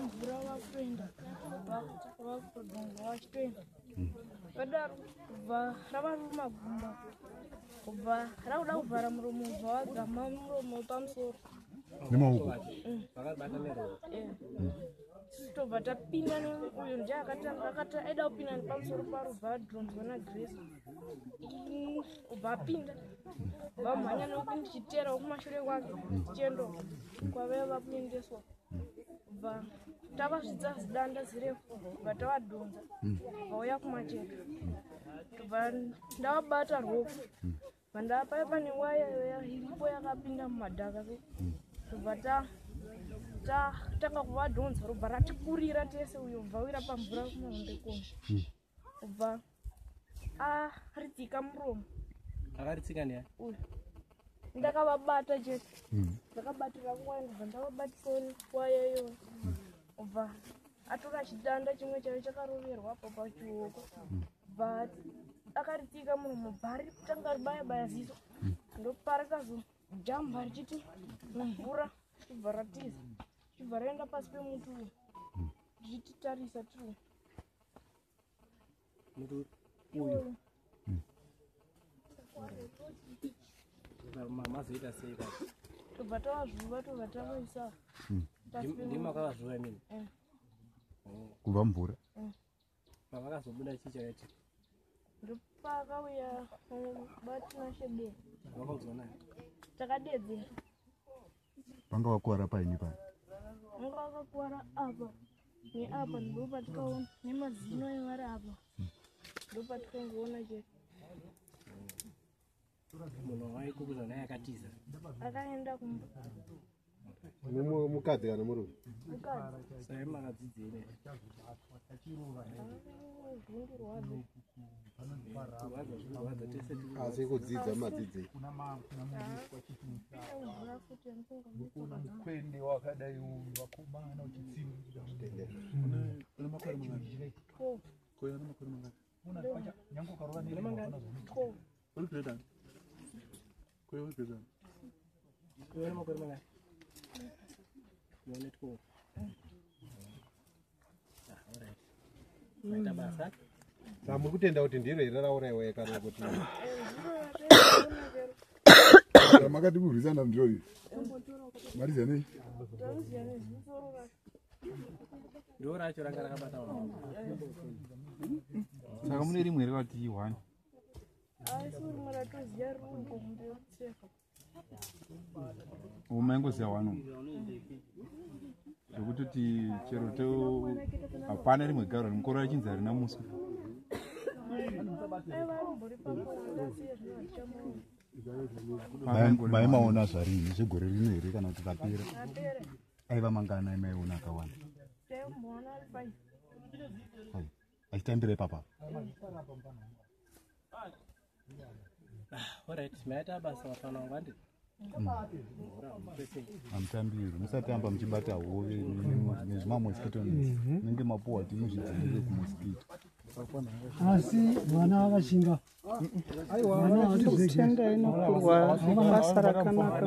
mvura vakutoenda vakutodonga vachitoenda vadaro kubva ravari magumba kubva rakuda kuvhara muromo ubva wagama muromo pamusoro nemaoko mm. eh. tobva tapinda neuyo nje akati aida kupinda nepamusoro paro bva adronzwa nagrace ubva apinda vamhanya nekuti ndichiteera wekumashure kwake tichiendoka kwavee vakuendeswa kubva tavasvidza zidanda zirefu kubva tavadhonza vauya kumacheka kubva ndavabata rofu vandapaya pane waya iripo yakapinda mumadhaka so kubva tatanga kuvadhonza robva ratikurira tese uyo bvawira pamvura kumahombe kona kubva aritsika muromo akaritsika neya ndakavabata je hmm. ndakabatira nguva ndibva ndavabatisa nguvayo iyoyo kubva atora chidanda chimwe chaiyo chakaroverwa apo pachioko hmm. but akaritsika muromo bhari kutanga ribaya baya ziso hmm. ndoparikazo jamba richiti mumvura chibva ratiza chibva raenda pasi pemuti uyu richititarisa tiri mazoita sei ka tobva tavazvuva tobva tavaisa hmm. ndimakavazvuva imini eh. oh. kubva mvura eh. pavakazobuda chii chakaiti ndopakauya eh, batinashebe vakaudza naye takadedzera vanga vakuwara pai nepai vanga vakakuwara apa neapa ndopatikaona nemazino evari apa ndopatikangoona che munhu waikubuza naye akatiza akaenda kumba mukadzi kana murume mukadzi sai makadzidzei asi kudzidza madzidzi kuna mukwende wakadai uyu vakomana uchitsimbira nyange ukarova nemakore mangani muri kutenda kuti ndiro here rauraiwa kana kuti makati kurwisana ndiro iri marizanei ndiro racho ranga rakabata saka mune rimwe here vati one umaingoziva wano zvekutoti chero to hapana rimwe garo rimukoro rachinzi harina muswe maimaona zvarii zvegore rino here kana kuti kapera aiva mangana imaiona akawanda achitambira ipapa hamutambiri musatamba muchibata hove nezvimamosquito nenge mapuwa ti muzvidzivirire kumosquito asi vana vakashinga aiwa vana vatizekutenda inokurwa basa rakanaka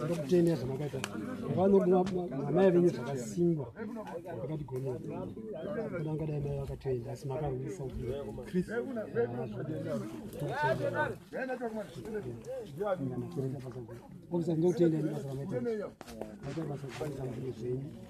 takakutenea zvamakaita vanamai venyu zvakasimba vakatigonera kana angadai mai vakatoenda asi makarwisa ndokutenda nebasa ramaita zvenyu